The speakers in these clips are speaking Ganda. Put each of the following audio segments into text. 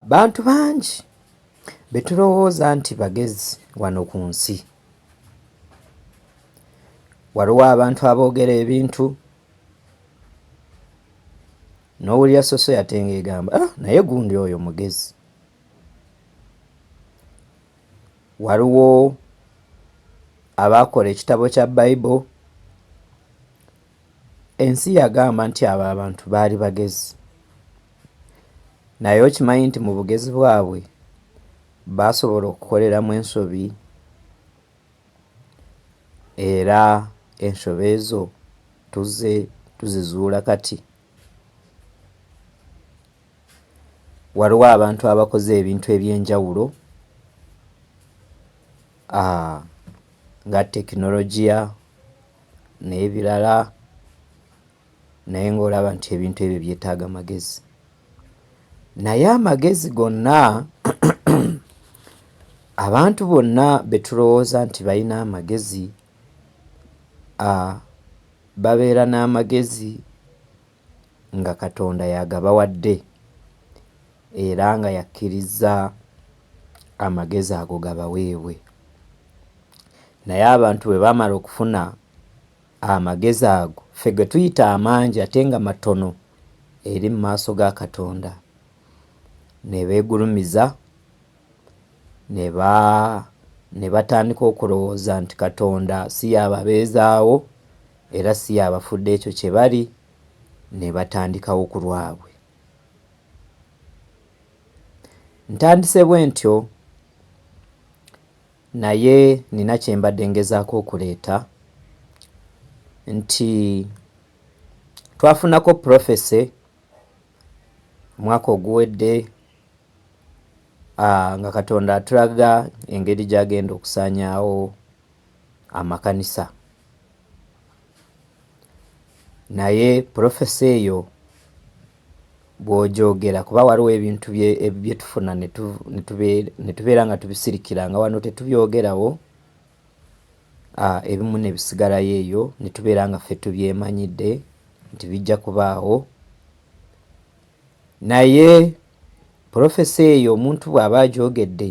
Bantu bangi be tulowooza nti bagezi wano ku nsi. Waliwo abantu aboogera ebintu n'owulira sosoyate ng'egamba ah, naye gundi oyo mugezi. Waliwo abaakola ekitabo kya Bible. Ensi yagamba nti abo abantu baali bagezi. Naye okimanyi nti mu bugezi bwabwe baasobola okukoleramu ensobi era ensobi ezo tuzze tuzizuula kati. Waliwo abantu abakoze ebintu eby'enjawulo nga tekinologiya. n'ebirala naye ng'olaba nti ebintu ebyo byetaaga magezi naye amagezi gonna abantu bonna betulowooza nti balina amagezi babeera n'amagezi nga katonda yagabawadde era nga yakkirizza amagezi ago gabaweebwe Naye abantu bwe baamala okufuna amagezi ago ffe ge tuyita amangi ate nga matono eri mu maaso ga Katonda, ne beegulumiza ne ba ne batandika okulowooza nti Katonda si y'ababeezaawo era si y'abafudde ekyo kye bali, ne batandikawo ku lwabwe. Ntandise bwe ntyo. Naye nina kyembadde ngezaako okuleeta nti twafunako prophecy omwaka oguwedde ah, nga katonda atulaga engeri gyagenda okusaanyaawo amakanisa Naye prophecy eyo bwogyogera kuba waliwo ebintu byetufuna netubeera nga tubisirikira nga wano tetubyogerawo ah, ebimu nebisigalayo eyo netubeera nga ffe tubyemanyidde nti bijja kubaawo naye profesi eyo omuntu bw'aba agyogedde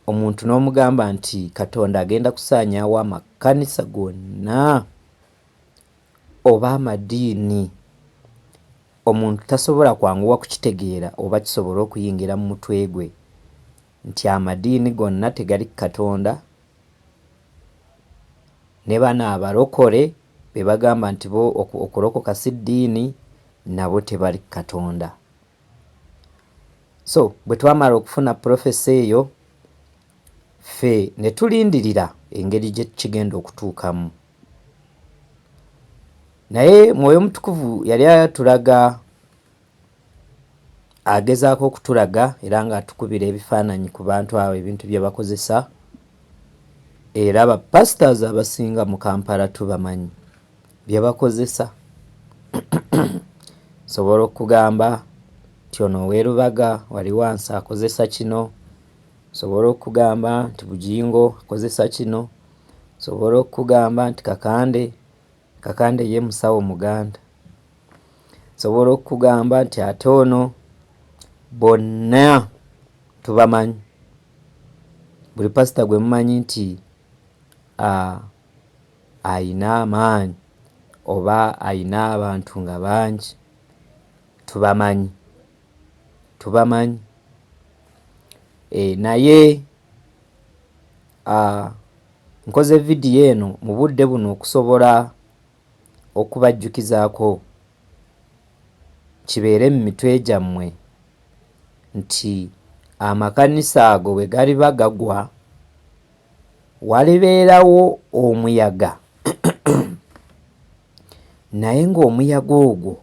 Omuntu n'omugamba nti Katonda agenda kusaanyaawo amakanisa gonna oba amadiini, omuntu tasobola kwanguwa kukitegeera oba kisobole okuyingira mu mutwe gwe nti amadiini gonna tegali ku Katonda, ne bano abalokole be bagamba nti bo okulokoka si ddiini nabo tebali ku Katonda. so bwe twamala okufuna profesa eyo ffe ne tulindirira engeri gye kigenda okutuukamu naye mwoyo mutukuvu yali atulaga agezaako okutulaga era ng'atukubira ebifaananyi ku bantu abo ebintu bye bakozesa era bapasitors abasinga mu kampala tubamanyi bye bakozesa nsobola okugamba nti ono ow'e Lubaga wali wansi akozesa kino, nsobola okugamba nti Bugingo akozesa kino, nsobola okugamba nti Kakande, Kakande ye musawo Muganda, nsobola okugamba nti ate ono bonna tubamanyi buli pasita gwe mumanyi nti aa. Ah, alina amaanyi oba alina abantu nga bangi tubamanyi, tubamanyi eeh naye aah nkoze vidiyo eno mu budde buno okusobola okubajjukizaako kibeere mu mitwe gyammwe nti amakanisa ago bwe galiba gagwa, Walibeerawo omuyaga, naye ng'omuyaga ogwo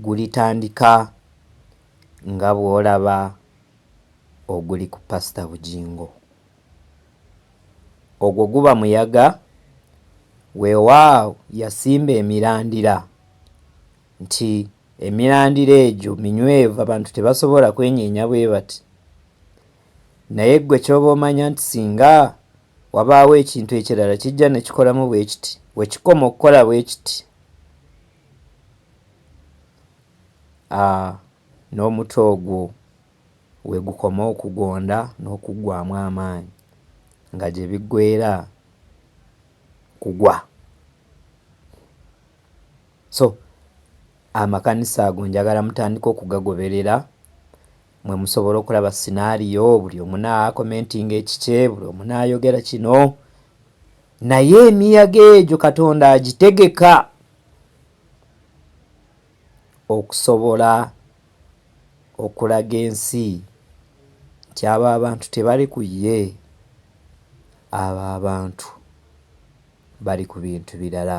gulitandika nga bw'olaba oguli ku Pasita Bugingo. Ogwo guba muyaga, weewaawo yasimba emirandira nti emirandira egyo minywevu abantu tebasobola kwenyeenya bwe bati, Naye ggwe ky'oba omanya nti singa wabaawo ekintu ekirala kijja ne kikolamu bwe kiti, we kikoma okukola bwe kiti, a, n'omutwe ogwo we gukoma okugonda n'okuggwaamu amaanyi, nga gye biggweera kugwa. So, amakanisa ago njagala mutandike okugagoberera, Mwe musobola okulaba scenario buli omu na commentinga ekikye buli omu nayogera kino naye emiyaga egyo katonda agitegeka okusobola okulaga ensi nti abo abantu tebali ku ye abo abantu bali ku bintu birala.